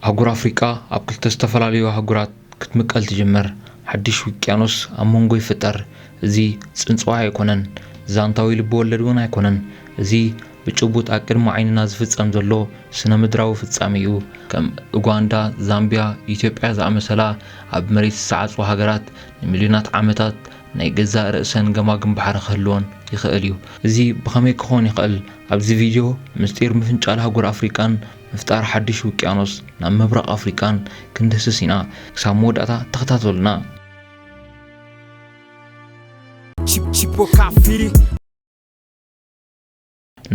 ኣህጉር ኣፍሪቃ ኣብ ክልተ ዝተፈላለዩ ኣህጉራት ክትምቀል ትጅምር፣ ሓድሽ ውቅያኖስ ኣብ መንጎ ይፍጠር። እዚ ጽንጽዋይ ኣይኮነን፣ ዛንታዊ ልብወለድ እውን ኣይኮነን። እዚ ብጭቡጥ ኣብ ቅድሚ ዓይንና ዝፍጸም ዘሎ ስነ-ምድራዊ ፍጻሜ እዩ። ከም ኡጋንዳ፣ ዛምቢያ፣ ኢትዮጵያ ዝኣመሰላ ኣብ መሬት ዝሰዓጹ ሃገራት ንሚልዮናት ዓመታት ናይ ገዛእ ርእሰን ገማግም ባሕሪ ክህልወን ይኽእል እዩ። እዚ ብኸመይ ክኾን ይኽእል? ኣብዚ ቪድዮ ምስጢር ምፍንጫል ኣህጉር ኣፍሪቃን ምፍጣር ሓድሽ ውቅያኖስ ናብ ምብራቕ ኣፍሪቃን ክንድህስስ ኢና። ክሳብ መወዳእታ ተኸታተሉና።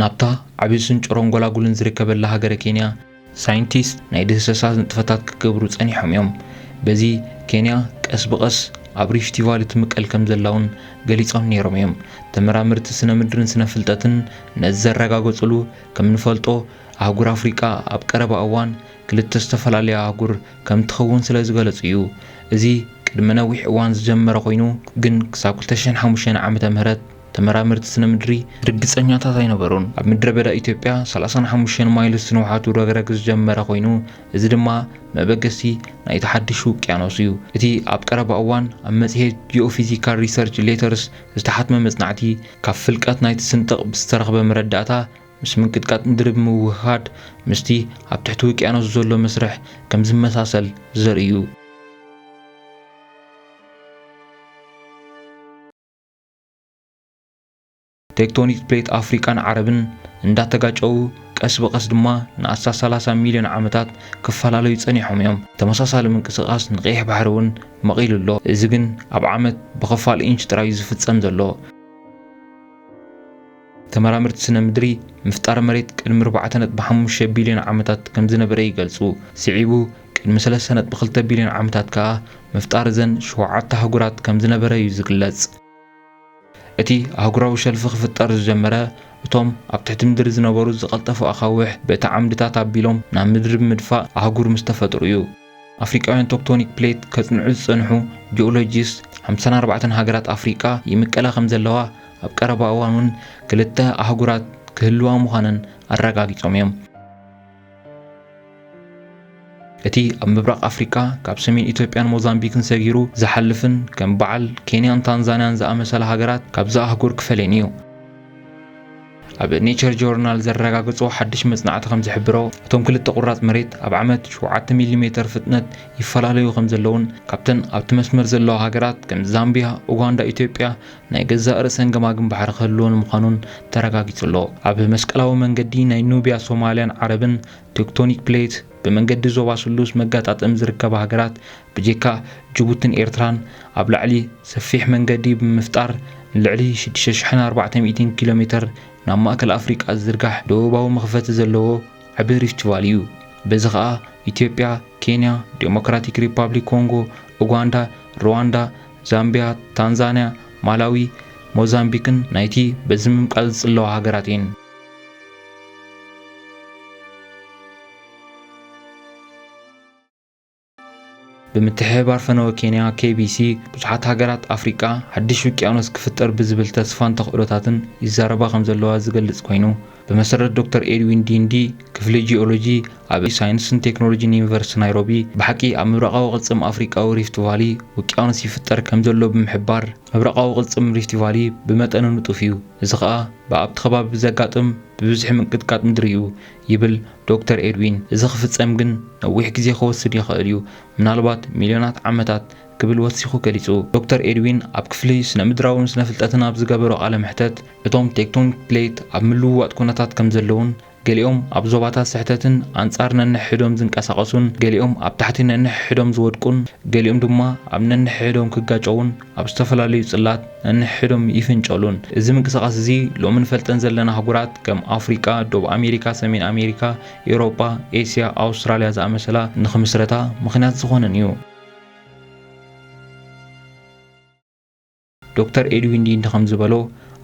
ናብታ ዓብዩ ስንጭሮን ጎላጉልን ዝርከበላ ሃገረ ኬንያ ሳይንቲስት ናይ ድህሰሳ ንጥፈታት ክገብሩ ጸኒሖም እዮም። በዚ ኬንያ ቀስ ብቐስ ኣብ ሪፍቲ ቫሊ ትምቀል ከም ዘላውን ገሊጾም ነይሮም እዮም። ተመራመርቲ ስነ ምድርን ስነ ፍልጠትን ነዚ ዘረጋገጽሉ ከም ንፈልጦ ኣህጉር ኣፍሪቃ ኣብ ቀረባ እዋን ክልተ ዝተፈላለያ ኣህጉር ከም እትኸውን ስለ ዝገለጹ እዩ። እዚ ቅድሚ ነዊሕ እዋን ዝጀመረ ኮይኑ ግን ክሳብ ክልተ ሽሕን ሓሙሽተን ዓመተ ምህረት ተመራመርቲ ስነ ምድሪ ርግጸኛታት ኣይነበሩን። ኣብ ምድረ በዳ ኢትዮጵያ ሰላሳን ሓሙሽተን ማይልስ ንውሓቱ ረግረግ ዝጀመረ ኮይኑ እዚ ድማ መበገሲ ናይቲ ሓድሽ ውቅያኖስ እዩ። እቲ ኣብ ቀረባ እዋን ኣብ መጽሔት ጂኦፊዚካል ሪሰርች ሌተርስ ዝተሓትመ መጽናዕቲ ካብ ፍልቀት ናይቲ ስንጥቕ ብዝተረኽበ መረዳእታ ምስ ምንቅጥቃጥ ምድሪ ብምውህሃድ ምስቲ ኣብ ትሕቲ ውቅያኖስ ዘሎ መስርሕ ከም ዝመሳሰል ዘርኢ እዩ። ቴክቶኒክ ፕሌት ኣፍሪቃን ዓረብን እንዳተጋጨዉ ቀስ ብቐስ ድማ ንኣስታት ሰላሳ ሚልዮን ዓመታት ክፈላለዩ ጸኒሖም እዮም። ተመሳሳሊ ምንቅስቓስ ንቀይሕ ባሕሪ እውን መቒሉ ኣሎ፣ እዚ ግን ኣብ ዓመት ብኽፋል ኢንች ጥራይ እዩ ዝፍጸም ዘሎ። ተመራመርቲ ስነ ምድሪ፣ ምፍጣር መሬት ቅድሚ ኣርባዕተ ነጥቢ ሓሙሽተ ቢልዮን ዓመታት ከም ዝነበረ ይገልጹ። ስዒቡ ቅድሚ ሰለስተ ነጥቢ ክልተ ቢልዮን ዓመታት ከኣ ምፍጣር እዘን ሸውዓተ ኣህጉራት ከም ዝነበረ እዩ ዝግለጽ። እቲ ኣህጉራዊ ሸልፍ ክፍጠር ዝጀመረ፣ እቶም ኣብ ትሕቲ ምድሪ ዝነበሩ ዝቐልጠፉ ኣኻውሕ በቲ ዓምድታት ኣቢሎም ናብ ምድሪ ብምድፋእ ኣህጉር ምስ ተፈጥሩ እዩ። ኣፍሪቃውያን ቶክቶኒክ ፕሌት ከጽንዑ ዝጸንሑ ጂኦሎጂስት፣ ሓምሳን ኣርባዕተን ሃገራት ኣፍሪቃ ይምቀላ ከምዘለዋ፣ ኣብ ቀረባ እዋን'ውን ክልተ ኣህጉራት ክህልዋ ምዃነን ኣረጋጊጾም እዮም። እቲ ኣብ ምብራቕ ኣፍሪቃ ካብ ሰሜን ኢትዮጵያን ሞዛምቢክን ሰጊሩ ዝሓልፍን ከም በዓል ኬንያን ታንዛንያን ዝኣመሰላ ሃገራት ካብዛ ኣህጉር ክፈልየን እዩ። ኣብ ኔቸር ጆርናል ዘረጋገጾ ሓድሽ መጽናዕቲ ከም ዝሕብሮ እቶም ክልተ ቁራጽ መሬት ኣብ ዓመት ሸውዓተ ሚሊ ሜተር ፍጥነት ይፈላለዩ ከም ዘለዉን ካብተን ኣብቲ መስመር ዘለዋ ሃገራት ከም ዛምቢያ፣ ኡጋንዳ፣ ኢትዮጵያ ናይ ገዛእ ርእሰን ገማግም ባሕሪ ክህልወን ምዃኑን ተረጋጊጹ ኣሎ። ኣብ መስቀላዊ መንገዲ ናይ ኑብያ ሶማልያን ዓረብን፣ ቴክቶኒክ ፕሌት፣ ብመንገዲ ዞባ ስሉስ መጋጣጠሚ ዝርከባ ሃገራት ብጀካ ጅቡትን ኤርትራን ኣብ ላዕሊ ሰፊሕ መንገዲ ብምፍጣር ንልዕሊ ሽዱሽተ ሽሕን ኣርባዕተ ሚእቲን ኪሎ ሜተር ናብ ማእከል ኣፍሪቃ ዝዝርጋሕ ደቡባዊ መኽፈቲ ዘለዎ ዓቢ ሪፍት ቫሊ እዩ። በዚ ከኣ ኢትዮጵያ፣ ኬንያ፣ ደሞክራቲክ ሪፓብሊክ ኮንጎ፣ ኡጋንዳ፣ ርዋንዳ፣ ዛምቢያ፣ ታንዛንያ፣ ማላዊ፣ ሞዛምቢክን ናይቲ በዚ ምምቃል ዝጽለዋ ሃገራት እየን። ብምትሕብባር ፈነወ ኬንያ ኬቢሲ ብዙሓት ሃገራት ኣፍሪቃ ሓድሽ ውቅያኖስ ክፍጠር ብዝብል ተስፋን ተኽእሎታትን ይዛረባ ከም ዘለዋ ዝገልጽ ኮይኑ ብመሰረት ዶክተር ኤድዊን ዲንዲ ክፍሊ ጂኦሎጂ ኣብ ሳይንስን ቴክኖሎጂን ዩኒቨርሲቲ ናይሮቢ ብሓቂ ኣብ ምብራቓዊ ቅልጽም ኣፍሪቃዊ ሪፍት ቫሊ ውቅያኖስ ይፍጠር ከም ዘሎ ብምሕባር ምብራቓዊ ቅልጽም ሪፍት ቫሊ ብመጠኑ ንጡፍ እዩ እዚ ከኣ ብኣብቲ ከባቢ ብዘጋጥም ብብዝሒ ምንቅጥቃጥ ምድሪ እዩ ይብል ዶክተር ኤድዊን፣ እዚ ክፍጸም ግን ነዊሕ ግዜ ክወስድ ይኽእል እዩ፣ ምናልባት ሚልዮናት ዓመታት ክብል ወሲኹ ገሊጹ። ዶክተር ኤድዊን ኣብ ክፍሊ ስነ-ምድራውን ስነ-ፍልጠትን ኣብ ዝገበሮ ቃለ መሕተት፣ እቶም ቴክቶኒክ ፕሌት ኣብ ምልውዋጥ ኩነታት ከም ዘለዉን፣ ገሊኦም ኣብ ዞባታት ስሕተትን ኣንጻር ነንሕሕዶም ዝንቀሳቐሱን፣ ገሊኦም ኣብ ታሕቲ ነንሕሕዶም ዝወድቁን፣ ገሊኦም ድማ ኣብ ነንሕሕዶም ክጋጨዉን፣ ኣብ ዝተፈላለዩ ጽላት ነንሕድሕዶም ይፍንጨሉን። እዚ ምንቅስቓስ እዚ ሎሚ ንፈልጠን ዘለና ኣህጉራት ከም ኣፍሪቃ፣ ዶብ ኣሜሪካ፣ ሰሜን ኣሜሪካ፣ ኤውሮጳ፣ ኤስያ፣ ኣውስትራልያ ዝኣመሰላ ንኽምስረታ ምኽንያት ዝኾነን እዩ። ዶክተር ኤድዊን ዲንዲ ከም ዝበሎ፣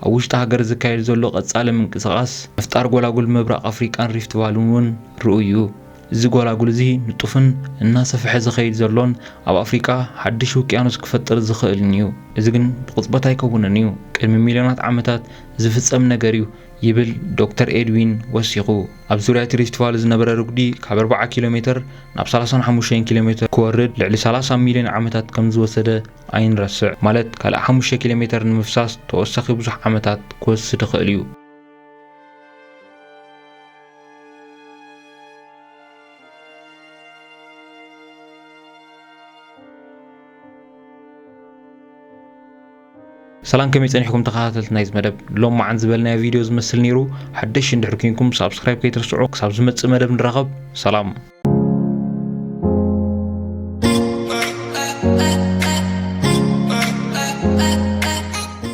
ኣብ ውሽጢ ሃገር ዝካየድ ዘሎ ቀጻሊ ምንቅስቓስ ምፍጣር ጎላጉል ምብራቕ ኣፍሪቃን ሪፍት ቫልን እውን ርኡይ እዩ። እዚ ጐላጉል እዚ ንጡፍን እናሰፍሐ ዝኸይድ ዘሎን ኣብ ኣፍሪቃ ሓድሽ ውቅያኖስ ክፈጥር ዝኽእልን እዩ። እዚ ግን ብቕጽበት ኣይከውንን እዩ፣ ቅድሚ ሚልዮናት ዓመታት ዝፍጸም ነገር እዩ ይብል ዶክተር ኤድዊን ወሲኹ። ኣብ ዙርያ እቲ ሪፍት ቫሊ ዝነበረ ርጉዲ ካብ ኣርብዓ ኪሎ ሜተር ናብ ሰላሳን ሓሙሽተን ኪሎ ሜተር ክወርድ ልዕሊ ሰላሳ ሚልዮን ዓመታት ከም ዝወሰደ ኣይንረስዕ። ማለት ካልእ ሓሙሽተ ኪሎ ሜተር ንምፍሳስ ተወሳኺ ብዙሕ ዓመታት ክወስድ ይኽእል እዩ። ሰላም ከመይ ጸኒሕኩም ተኸታተልቲ ናይዚ መደብ ሎም መዓን ዝበልናዮ ቪድዮ ዝመስል ነይሩ ሓደሽ እንድሕር ኮንኩም ሳብስክራይብ ከይትርስዑ ክሳብ ዝመጽእ መደብ ንራኸብ ሰላም